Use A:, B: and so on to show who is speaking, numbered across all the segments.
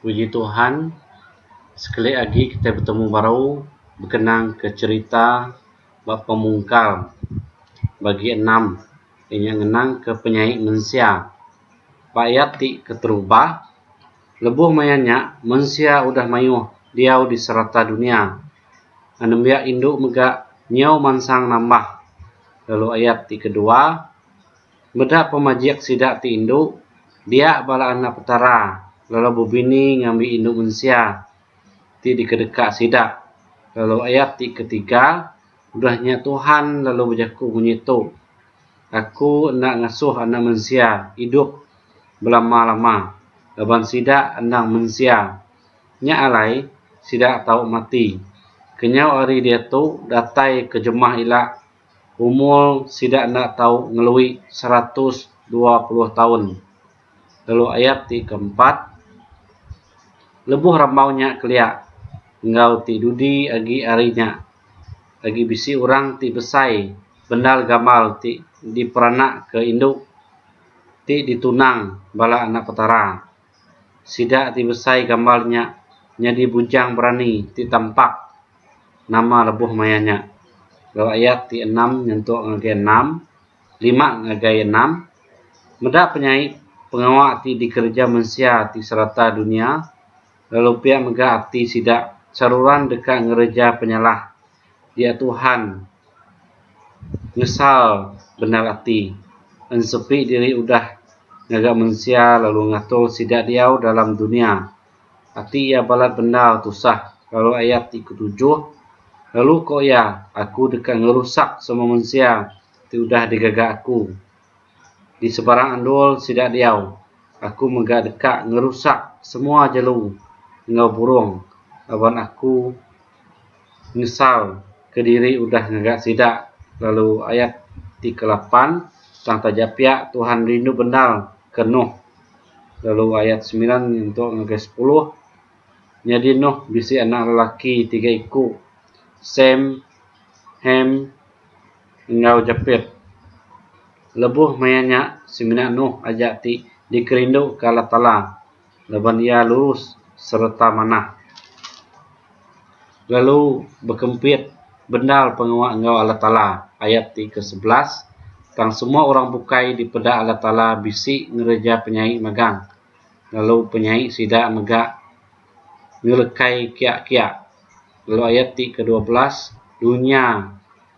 A: Puji Tuhan sekali agi kitai betemu baru bekenang ke cherita ba pemungkal bagi enam inya ngenang ke penyai mensia ba ayat ti keterubah lebuh maya nya mensia udah mayuh diau di serata dunia nembiak indu mega nyau mansang nambah lalu ayat ti kedua Meda pemajik sida ti indu, dia bala anak Petara lalu bebini ngambi indu mensia ti dikedeka sida, lalu ayat ti ketiga, udah nya Tuhan lalu bejaku munyi tu, Aku enda ngasuh anak mensia idup belama-lama, laban sida endang mensia. Nya alai, sida tau mati. Kenyau ari diatu datai ke jemah ila umur sida enda tau ngelui seratus dua puluh taun. Lalu ayat ti keempat, lebuh rambau nya kelia enggau ti dudi agi ari nya, agi bisi orang ti besai bendar gamal ti diperanakka indu ti ditunang bala anak Petara. sida ti besai gambar nya nyadi bujang berani ti tampak nama lebuh maya nya lalu ayat ti enam nyentuk ngagai enam lima ngagai enam meda penyai pengawa ti dikereja mensia ti serata dunya lalu pia mega ati sida saruran deka ngereja penyalah Iya Tuhan nyesal bendar ati ensepi diri udah ngaga mensia lalu ngatur sida diau dalam dunya. Ati iya balat bendar tusah lalu ayat ti ketujuh lalu ko iya, Aku deka ngerusak semua mensia ti udah digaga Aku. di sebarang endur sida diau, aku mega deka ngerusak semua jelu enggau burung laban aku nyesal kediri udah ngaga sida, lalu ayat ti kelapan tang taja pia Tuhan rindu bendar ke Nuh. Lalu ayat semilan nyentuk ngagai sepuluh, Nyadi Nuh bisi anak lelaki tiga iku, Sem, Hem, enggau jepit. Lebuh maya nya semina Nuh aja ti dikerinduka Allah Taala laban iya lurus sereta manah, lalu bekempit bendar pengawa enggau Allah Taala, ayat ti kesebelas, tang semua orang bukai dipeda Allah Taala bisi ngereja penyai magang, lalu penyai sida mega. ngelekai kiak-kiak. Lalu ayat ti kedua belas, Dunya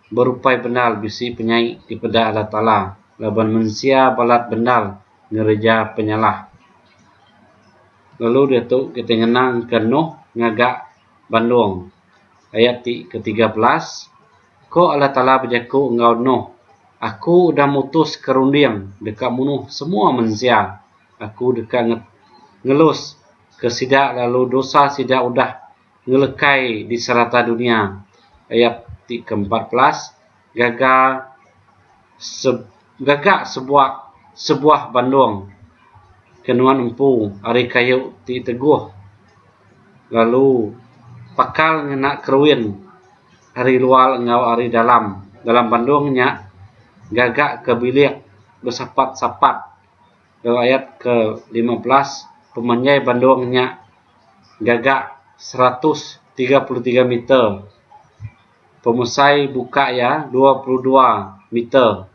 A: berupai bendal bisi penyai dipeda Allah Taala, laban mensia balat bendal ngereja penyalah. Lalu diatu kitai ngenangka Noh ngaga bandong. Ayat ti ketiga belas, Ko Allah Taala bejaku enggau Noh, Aku udah mutuska runding deka munuh semua mensia. Aku deka ngelus. ke sida lalu dosa sida udah ngelekai di serata dunia. Ayat ti ke empat belas gaga se gaga sebuah sebuah bandong ke nuan empu ari kayu ti teguh lalu pakal ngena keruin ari luar enggau ari dalam dalam bandong nya gaga ke bilik besapat-sapat. Lalu ayat ke lima belas, Pemanjai bandung nya gaga seratus tiga puluh tiga meter, pemesai buka iya dua puluh dua meter,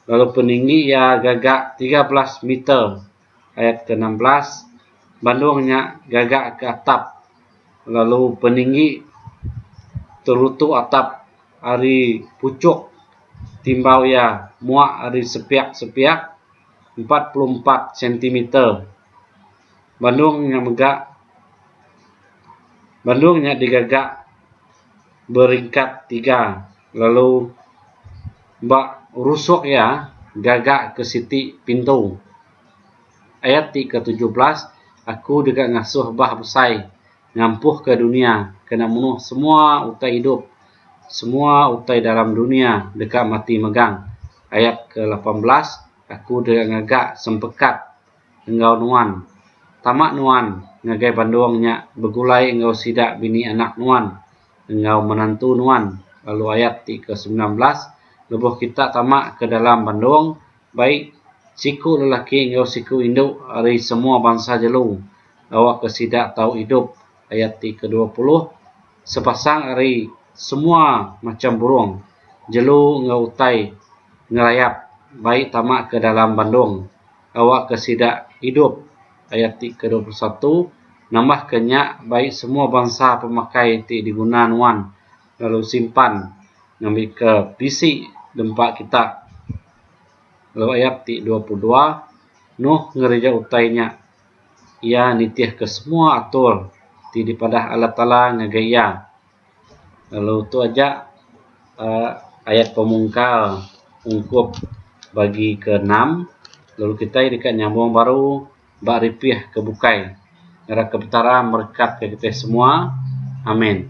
A: lalu peninggi iya gaga tiga belas meter. Ayat ke enam belas, Bandung nya gaga ke atap, lalu peninggi terutu atap ari puchuk timbau iya muak ari sepiak-sepiak. empat puluh empat sentimeter. Bandung nya mega Bandung nya digaga beringkat tiga lalu ba rusuk iya gaga ke siti pintu. Ayat ti ke tujuh belas, Aku deka ngasuh bah besai. ngampuhka dunia kena munuh semua utai idup semua utai dalam dunia deka mati megang ayat ke lapan belas aku deka ngaga sempekat enggau nuan tama nuan ngagai bandung nya begulai enggau sida bini anak nuan enggau menantu nuan lalu ayat ti ke sembilan belas lebuh kita tama ke dalam bandung baik siku lelaki enggau siku indu ari semua bansa jelu gawa ke sida tau idup ayat ti ke dua puluh sepasang ari semua macham burung jelu enggau utai ngerayap baik tama ke dalam bandong gawa ke sida idup ayat ti ke dua puluh satu nambah ke nya baik semua bansa pemakai ti diguna nuan lalu simpan ngambika PC da empa kita. Lalu ayat ti dua puluh dua, Nuh ngereja utai nya. Iya nitihka semua atur ti dipadah Allah Taala ngagai iya. Lalu tu aja uhh ayat pemungkal ungkup bagi ke enam lalu kitai deka nyambung baru ba ripih ke bukai ngagai ke Petara merekat ke kitai semua. Amin.